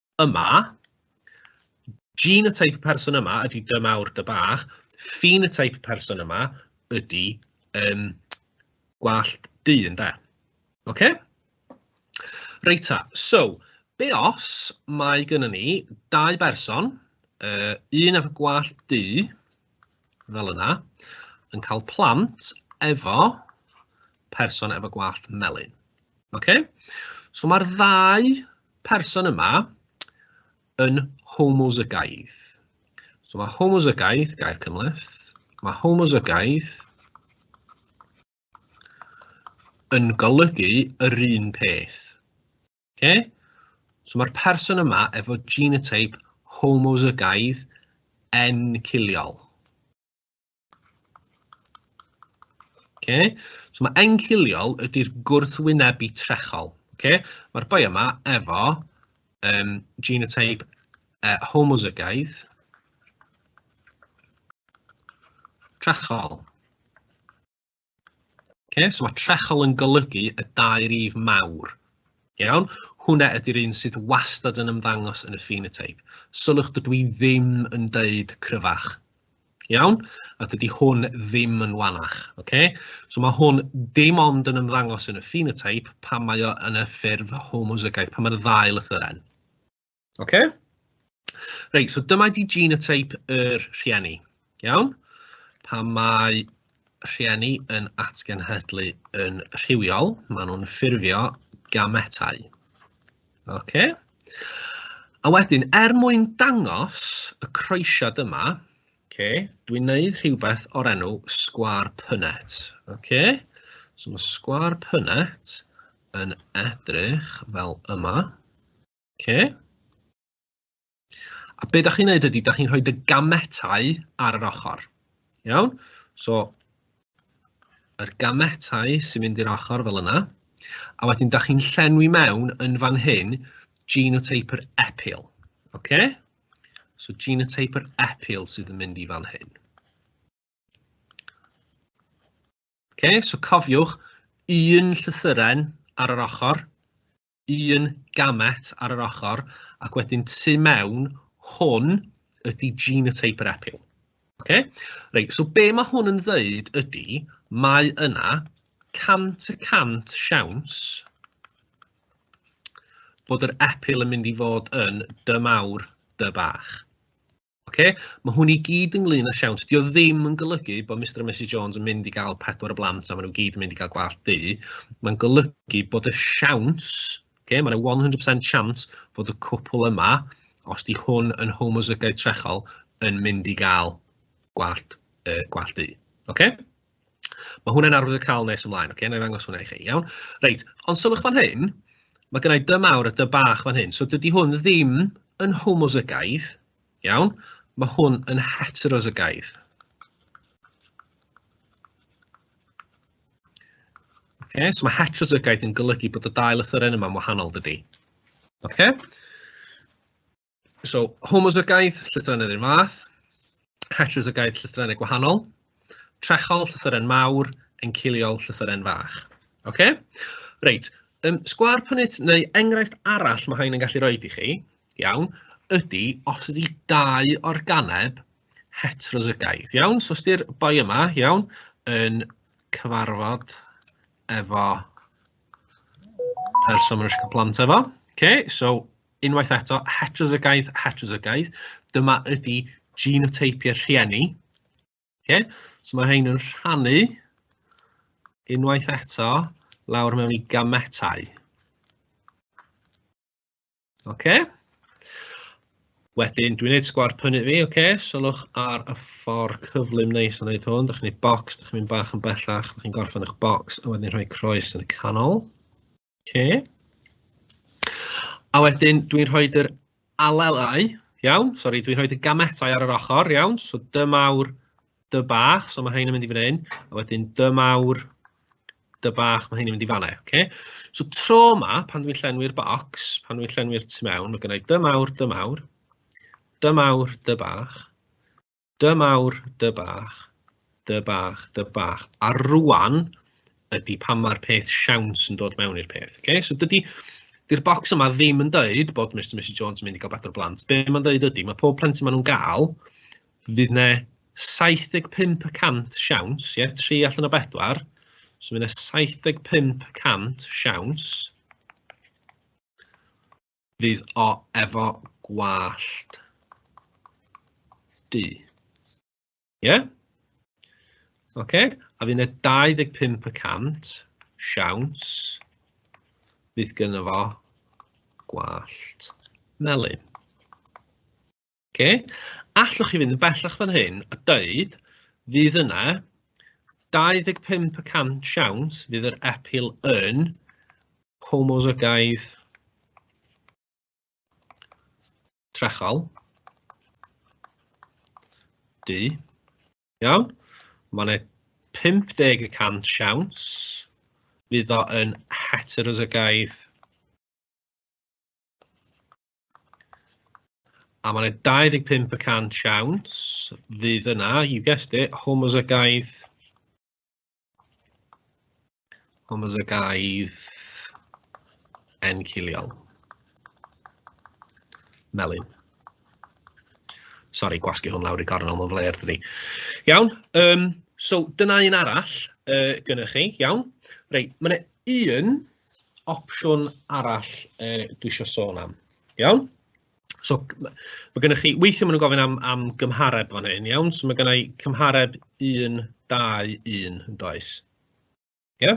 [SPEAKER 2] yma, genotype y person yma ydy dy mawr dy bach, phenotype y person yma ydy um, gwallt du yn da. OK? Reit ta, so, be os mae gynnu ni dau berson, uh, un efo gwallt du, fel yna, yn cael plant efo person efo gwallt melyn. Okay? So mae'r ddau person yma yn homozygaidd. So mae homozygaidd, gair cymhleth, mae homozygaidd yn golygu yr un peth. Okay? So mae'r person yma efo genotype homozygaidd enciliol. Okay? So mae enciliol ydy'r gwrthwynebu trechol. Okay? Mae'r boi yma efo um, genotype uh, homozygaidd trechol. Okay, so mae trechol yn golygu y dau rif mawr. Iawn, hwnna ydy'r un sydd wastad yn ymddangos yn y phenotype. Sylwch dydw i ddim yn deud cryfach. Iawn, a dydy hwn ddim yn wanach. Okay? So mae hwn dim ond yn ymddangos yn y phenotype pan mae o yn y ffurf homozygaeth, pan mae'r ddau lythyren. Ok? Reit, so dyma di genotype yr rhieni, iawn? Pan mae rhieni yn atgenhedlu yn rhywiol, maen nhw'n ffurfio gametau. Ok? A wedyn, er mwyn dangos y croesiad yma, okay, dwi'n neud rhywbeth o'r enw sgwar pynet. Okay? So mae sgwar pynet yn edrych fel yma. Ocê. A be dach chi'n neud ydy, dach chi'n rhoi dy gametau ar yr ochr. Iawn? So, yr gametau sy'n mynd i'r ochr fel yna. A wedyn, dach chi'n llenwi mewn yn fan hyn genotype yr epil. Oce? So genotype yr epil sydd yn mynd i fan hyn. Oce, so cofiwch un llythyren ar yr ochr, un gamet ar yr ochr, ac wedyn tu mewn, hwn ydy genotype yr epil. Okay? Reit, so be mae hwn yn ddeud ydy, mae yna 100 y 100 siawns bod yr epil yn mynd i fod yn dy mawr, dy bach. Oce, mae hwn i gyd ynglyn â siawns. Dio ddim yn golygu bod Mr a Mrs Jones yn mynd i gael pedwar y blant a maen nhw gyd yn mynd i gael gwallt du. Mae'n golygu bod y siawns, okay, mae'n 100% siawns fod y cwpl yma, os di hwn yn homozygoid trechol, yn mynd i gael gwallt, uh, gwallt du. Okay? Ma' hwnna'n arwydd o cael nes ymlaen, ocê, wna i ddangos hwnna i chi, iawn? Reit, ond sylwch fan hyn, ma' gynna i dŷ mawr a dŷ bach fan hyn, so dydy hwn ddim yn homozygaidd, iawn? Ma' hwn yn heterozygaidd. Ocê, so ma' heterozygaidd yn golygu bod y dau lythyren yma'n wahanol, dydy? Ocê? So, homozygaeth, llythrennau yr un fath, heterozygaeth, llythrennau gwahanol, trechol, llythyren mawr, enciliol, llythyren fach. OK? Reit, um, sgwar pynit neu enghraifft arall mae hyn yn gallu rhoi i chi, iawn, ydy os ydy dau organeb heterozygaeth, iawn? So os ydy'r boi yma, iawn, yn cyfarfod efo person mae'n eisiau cael plant efo. Okay, so Unwaith eto, heterozygoid, heterozygoid. Dyma ydy genoteipiau rhieni. Okay? So mae hein yn rhannu unwaith eto lawr mewn i gametau. Okay? Wedyn, dwi'n neud sgwar pynu fi, oce, okay? sylwch ar y ffordd cyflym neis yn neud hwn, dych chi'n neud box, dych chi'n mynd bach yn bellach, dych chi'n gorffen eich box, a wedyn rhoi croes yn y canol. Ocê. A wedyn dwi'n rhoid yr alelau, iawn, sori, dwi'n rhoid y gametau ar yr ochr, iawn, so dy mawr, dy bach, so mae hyn yn mynd i fan hyn, a wedyn dy mawr, dy bach, mae hyn yn mynd i fan hyn, okay? So tro yma, pan dwi'n llenwi'r bocs, pan dwi'n llenwi'r tu mewn, mae gennau dy mawr, dy mawr, dy mawr, dy bach, Dy mawr, dy bach, dy bach, dy bach. A rwan ydy pan mae'r peth siawns yn dod mewn i'r peth. Okay? So dydy, dy'r bocs yma ddim yn dweud bod Mr a Mrs Jones yn mynd i gael badr blant. Be mae'n dweud ydy, mae pob plentyn maen nhw'n gael, fydd ne 75% siawns, ie, 3 allan o 4, so fydd ne 75% siawns Fydd o efo gwallt du. Ie? Ocê, a fydd 'na 25 y cant siawns fydd gynno fo gwallt melyn. Oce, allwch chi fynd yn bellach fan hyn a dweud fydd yna 25 y cant siawns fydd yr epil yn homozygaidd trechol. Du. Iawn? Mae yna 50 y cant siawns fydd o yn heterozygaidd A mae'n 25 y cant siawns fydd yna, you guessed it, homozygaidd homozygaidd enciliol. Melin. Sorry, gwasgu hwn lawr i gornel, mae'n flair dydi. Iawn, um, so dyna un arall uh, gyda chi, iawn. Reit, mae'n un opsiwn arall yy dwi isio sôn am, iawn? So ma' ma' gynnoch chi, weithiau maen nhw'n gofyn am am gymhareb fan hyn iawn, so ma' gynna i cymhareb 1, 2, 1 yn does? Ie?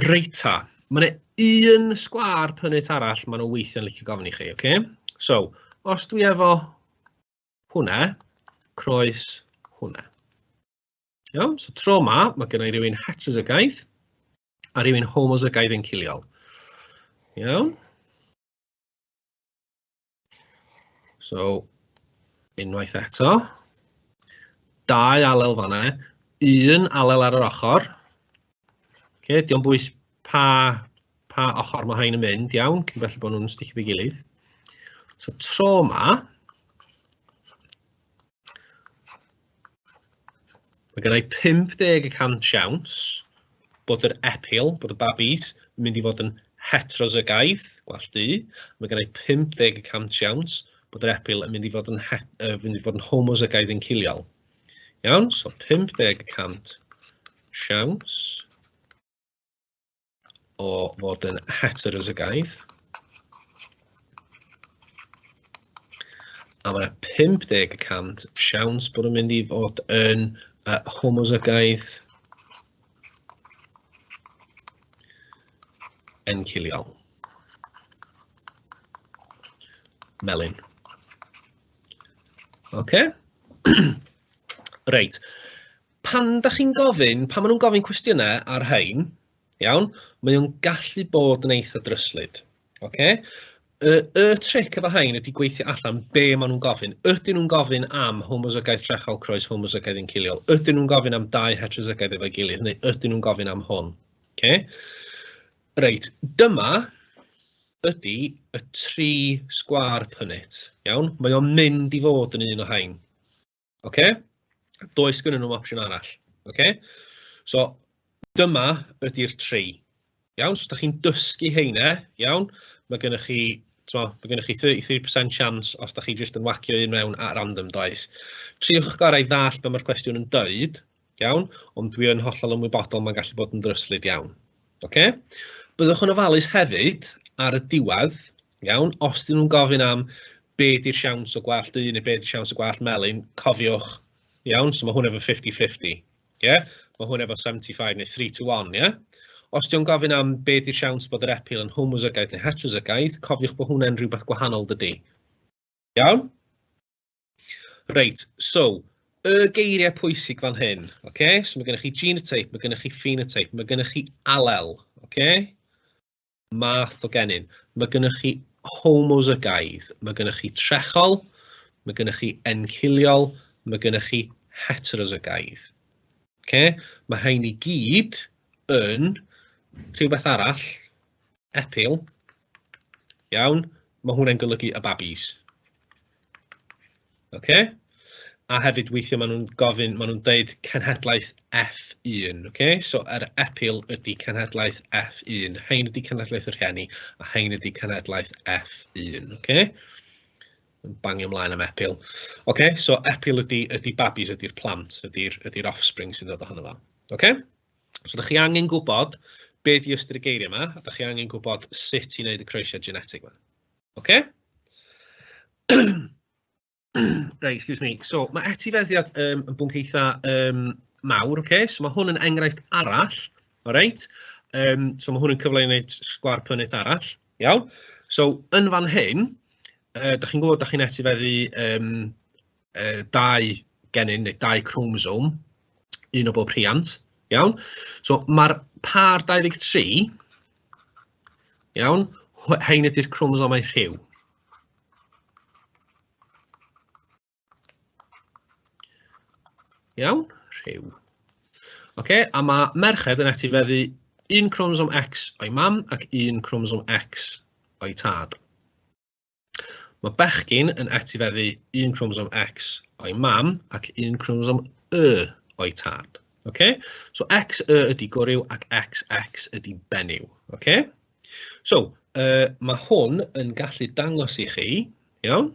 [SPEAKER 2] Reit ta, ma' 'na un sgwâr pynnit arall maen nhw weithiau'n licio gofyn i chi, ocê? So, os dwi efo hwnna, croes hwnna. Iawn, so tro ma, mae gen i rywun heterozygaidd a rywun homozygaidd yn ciliol. Iawn. So, unwaith eto. Dau alel fanna, un alel ar yr ochr. Okay, diolch bwys pa, pa ochr mae hain yn mynd, iawn, cyn felly bod nhw'n sticio fi gilydd. So, tro ma, Mae gennau 50 y cant siawns bod yr epil, bod y babis, yn mynd i fod yn heterozygaidd, gwell du. Mae gennau 50 y cant siawns bod yr epil yn mynd i fod yn, het, uh, mynd i fod yn homozygaidd yn ciliol. Iawn, so 50 y cant siawns. o fod yn heterozygoid. A mae 50 y cant siawns bod yn mynd i fod yn uh, homozygoid enciliol. Melin. OK? reit. pan da chi'n gofyn, pan maen nhw'n gofyn cwestiynau ar rhain, iawn, mae o'n gallu bod yn eitha dryslyd. Okay? Y, y tric efo hain ydy gweithio allan be maen nhw'n gofyn. Ydyn nhw'n gofyn am homozygaeth trechol croes homozygaeth yn ciliol? Ydyn nhw'n gofyn am dau heterozygaeth efo'i gilydd? Neu ydyn nhw'n gofyn am hwn? Okay? Reit, dyma ydy y tri sgwar pynnit. Iawn? Mae o'n mynd i fod yn un o hain. Ocê? Does gennyn nhw opsiwn arall. Ocê? So dyma ydy'r tri. Iawn? So dach chi'n dysgu heine, iawn? Mae gennych chi, mae gennych chi 33% chance os dach chi jyst yn whacio un mewn at random, does? Triwch gorau ddall be mae'r cwestiwn yn dweud, Iawn, ond dwi yn hollol ymwybodol mae'n gallu bod yn ddryslyd iawn. Ocê? Byddwch yn ofalus hefyd ar y diwedd, iawn, os dyn nhw'n gofyn am be di'r siawns o gwallt du neu be di'r siawns o gwallt melyn, cofiwch, iawn, so mae hwn efo 50-50, ie? Mae hwn efo 75 neu 3 to 1, ie? Os di'n gofyn am be di'r siawns bod yr epil yn homozygaeth neu heterozygaeth, cofiwch bod hwnna'n rhywbeth gwahanol dydy. Iawn? Reit, so, y geiriau pwysig fan hyn, ok? So mae gennych chi genotype, mae gennych chi phenotype, mae gennych chi alel, ok? Math o genyn. Mae gennych chi homozygaidd, mae gennych chi trechol, mae gennych chi enciliol, mae gennych chi heterozygaidd. Ok, mae rhain i gyd yn rhywbeth arall, epil, iawn, mae hwnna'n golygu y babis. Ok, a hefyd weithiau maen nhw'n gofyn, maen nhw'n deud cenhedlaeth F1, ok, so yr epil ydy cenhedlaeth F1, hein ydy cenhedlaeth y rhieni, a hein ydy cenhedlaeth F1, ok. yn bangio ymlaen am epil. Ocê, so epil ydy ydy babis, ydy'r plant, ydy'r ydy'r offspring sy'n dod ohono fo. Ocê? So dach chi angen gwybod be di ystyr y geiriau yma, a dach chi angen gwybod sut i wneud y croesiad genetig yma. Ocê? Right, excuse me. So mae etifeddiad um, yn bwnc eitha um, mawr, okay? so mae hwn yn enghraifft arall, all right? um, so mae hwn yn cyfle i wneud sgwar pynnit arall, iawn? So yn fan hyn, yy dach chi'n gwybod dach chi'n etifeddu yym yy dau genyn neu dau chromosome, un o bob rhiant, iawn? So ma'r pâr 23, iawn, hein ydy'r chromosomau rhyw. Iawn, rhyw. Oce, a mae merched yn etifeddu un cromosom X o'i mam ac un cromosom X o'i tad. Mae bechgyn yn etifeddu un cromosom X o'i mam ac un cromosom Y o'i tad. Okay? So X, Y ydy goryw ac X, X ydy benyw. Okay? So, uh, mae hwn yn gallu dangos i chi, iawn,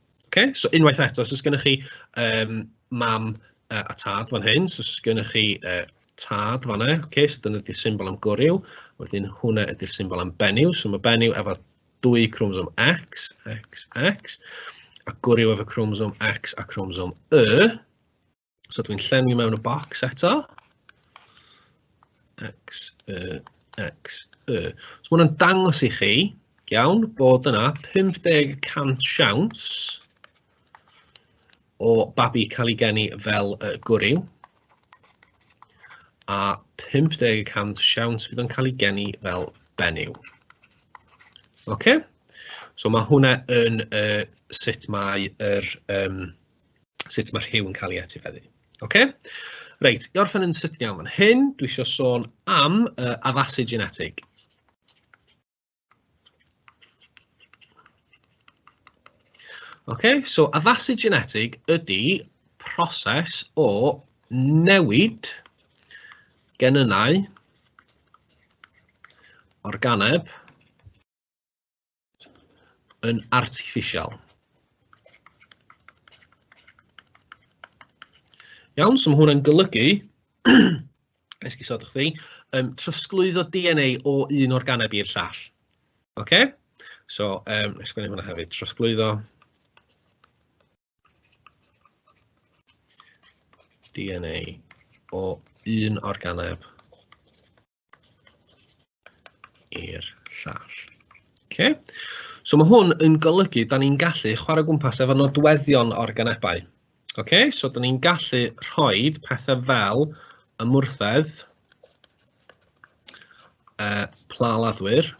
[SPEAKER 2] Ocê so unwaith eto os oes gennych chi yym mam yy a tad fan hyn, so os oes gennych chi yy tad fan'na ocê so dyna 'di'r symbol am gwryw, wedyn hwnna ydy'r symbol am benyw, so ma' benyw efo dwy chromosome X, X, X, a gwryw efo chromosome X a chromosome Y. So dwi'n llenwi mewn y bocs eto. X, Y, X, Y. So mae'n dangos i chi, iawn, bod yna 50% siawns o babi cael ei geni fel y gwryw a 50% siawns fydd o'n cael ei geni fel benyw. OK? So mae hwnna yn uh, sut mae yr um, sut ma' rhyw yn cael ei etifeddu. Ocê? Reit, i orffen yn sydyn iawn fan hyn, dwi isio sôn am uh, addasu genetig. Ocê, so addasu genetig ydy proses o newid genynnau organeb yn artiffisial. Iawn, so mae hwnna'n golygu, esgusodwch fi, um, trosglwyddo DNA o un organeb i'r llall. Oce? Okay? So, um, esgwneud hwnna hefyd, trosglwyddo DNA o un organeb i'r llall. Okay. So mae hwn yn golygu, da ni'n gallu chwarae gwmpas efo nodweddion organebau. Okay. So da ni'n gallu rhoi pethau fel ymwrthedd, uh, pla laddwyr,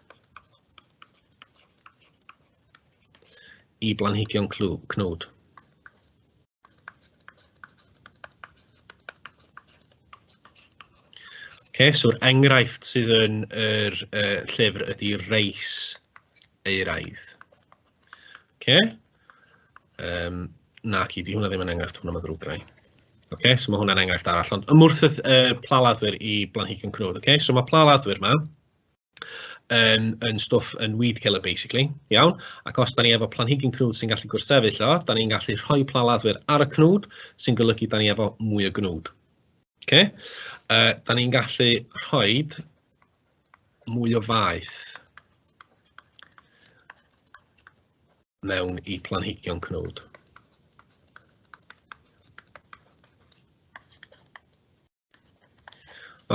[SPEAKER 2] i blanhigion cnwd. Okay, so'r enghraifft sydd yn yr uh, llyfr ydy reis eiraidd. Okay. Um, na, ci, di hwnna ddim yn enghraifft, hwnna mae ddrwg rai. Okay, so mae hwnna'n enghraifft arall, ond ymwrth y uh, plaladdwyr i blanhigion cnwd. Okay, so mae plaladdwyr yma, yn yn stwff yn weed killer basically iawn ac os dan ni efo planhigyn cnwd sy'n gallu gwrthsefyll o dan ni'n gallu rhoi plaladdwyr ar y cnwd sy'n golygu dan ni efo mwy o gnwd. Oce? Okay? Uh, dan ni'n gallu rhoi mwy o faeth mewn i planhigion cnwd.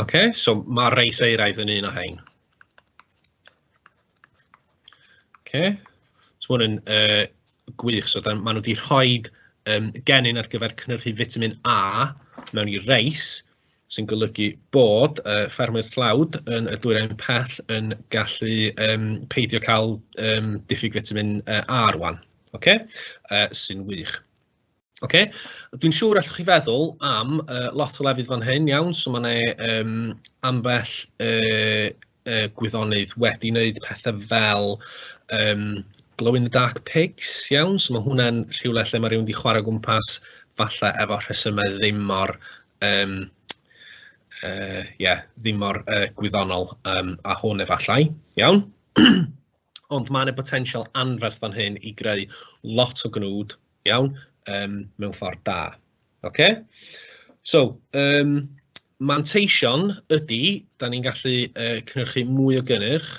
[SPEAKER 2] OK, so ma' reis eiraidd yn un o rhain. OK, so ma' hwn yn yy gwych, so dan- ma' nhw 'di rhoid yym genyn ar gyfer cynhyrchu fitamin A mewn i reis, sy'n golygu bod yy ffermwyr tlawd yn y Dwyrain Pell yn gallu yym peidio cael yym diffyg fitamin yy A rŵan. OK, yy sy'n wych. Ocê dwi'n siŵr allwch chi feddwl am yy lot o lefydd fan hyn iawn, so ma' 'na yym ambell yy yy gwyddonydd wedi wneud petha fel yym glow in the dark pigs iawn, so ma' hwnna'n rhywle lle ma' rywun 'di chwarae o gwmpas falle efo rhesymau ddim mor yym yy ie ddim mor yy gwyddonol yym â hwn efallai, iawn? Ond mae 'na botensial anferth fan hyn i greu lot o gnwd, iawn, yym mewn ffordd da, ocê? So yym manteision ydy, dan ni'n gallu yy cynhyrchu mwy o gynnyrch,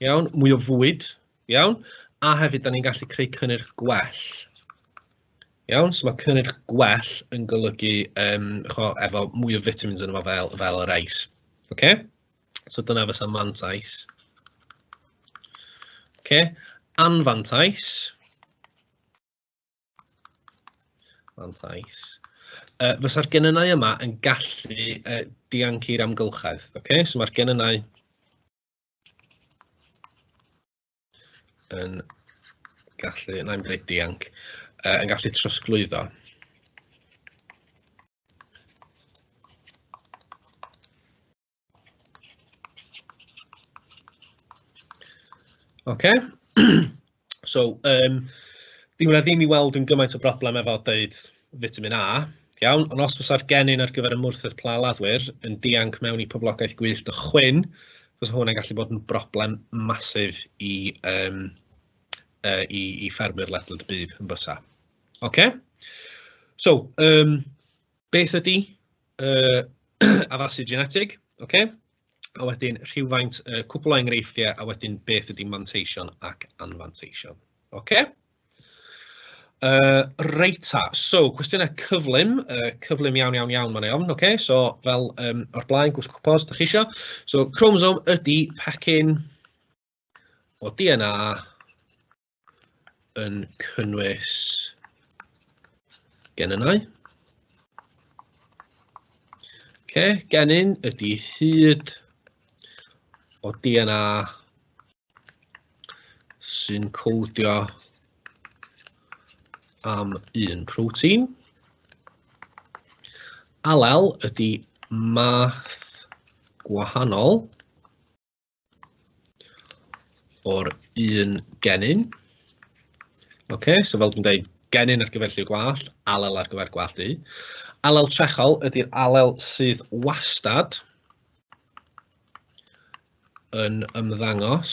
[SPEAKER 2] iawn, mwy o fwyd, Iawn? A hefyd, dan ni'n gallu creu cynnyrch gwell. Iawn, so mae cynnyrch gwell yn golygu um, cho, efo mwy o vitamins yn efo fel, fel yr ais. Okay? So dyna fysa mantais. Okay? Anfantais. Mantais. Uh, fysa'r genynau yma yn gallu uh, diancu'r amgylchedd. Okay? So mae'r genynau yn gallu, na i'n dweud dianc, uh, yn gallu trosglwyddo. OK. So yym dyw hwnna ddim i weld yn gymaint o broblem efo deud fitamin A, iawn, ond os fysa'r genyn ar gyfer ymwrthedd pla laddwyr yn dianc mewn i poblogaeth gwyllt o chwyn, fysa hwnna'n gallu bod yn broblem massive i yym yy i i ffermwyr ledled y byd yn fysa. Ocê? So yym Beth ydy uh, addasu genetig? Okay. A wedyn rhywfaint uh, cwpl o enghreifftiau a wedyn beth ydy manteision ac anfanteision. Okay. Uh, reita, so cwestiynau cyflym, uh, cyflym iawn iawn iawn mae'n iawn, okay? so fel um, o'r blaen, gwisgo cwpos, da chi isio. So chromosome ydy pecyn o DNA yn cynnwys genynau. Ce, genyn ydy hyd o DNA sy'n codio am un protein. Alel ydy math gwahanol o'r un genyn. OK, so fel dwi'n dweud, genyn ar gyfer lliw gwallt, alel ar gyfer gwallt du. Alel trechol ydy'r alel sydd wastad yn ymddangos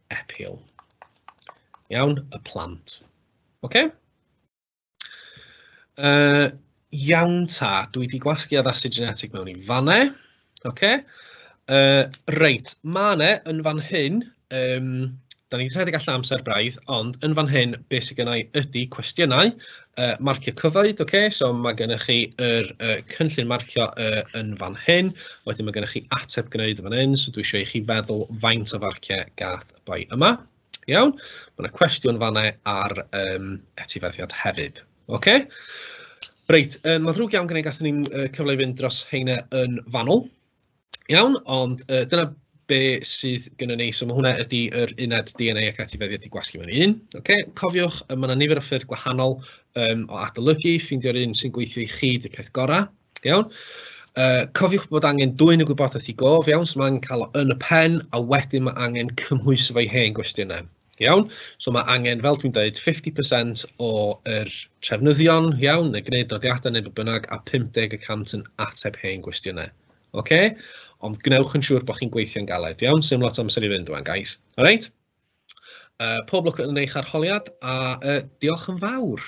[SPEAKER 2] appeal. Iawn, y plant. OK? Uh, iawn ta, dwi wedi gwasgu addasu genetic mewn i fanne. OK? Uh, reit, mae yna yn fan hyn, um, da ni'n rhedeg allan amser braidd, ond yn fan hyn, beth sydd gennau ydy cwestiynau, yy marcio cyfoeth ok so ma' gynnoch chi yr yy cynllun marcio yy yn fan hyn, wedyn ma' gynnoch chi ateb gwneud yn fan hyn so dwi isio i chi feddwl faint o farciau gath y boi yma, iawn? Ma' 'na cwestiwn fanna ar yym etifeddiaeth hefyd ok. Reit yy ma'n ddrwg iawn gen i gathon ni'm yy cyfle i fynd dros heina yn fanwl. Iawn, ond yy dyna be sydd gynnon ni, so ma' hwnna ydi yr uned DNA ac etifeddiaeth i gwasgu mewn i un. Ocê, cofiwch yy ma' 'na nifer o ffyrdd gwahanol yym o adolygu, ffeindio'r un sy'n gweithio i chi 'di'r peth gorau, iawn? Yy cofiwch bod angen dwyn y gwybodaeth i gof, iawn, so ma' angen cael o yn y pen a wedyn ma' angen cymhwyso fo'i hen gwestiynau. Iawn, so mae angen, fel dwi'n dweud, 50% o'r trefnyddion, iawn, neu gwneud nodiadau neu be bynnag, a 50 y cant yn ateb hen gwestiynau. Ok? Ond gwnewch yn siŵr bod chi'n gweithio'n galed, iawn? Sdim lot o amser i fynd 'wan, guys. Alright? Uh, pob lwc yn eich arholiad a uh, diolch yn fawr.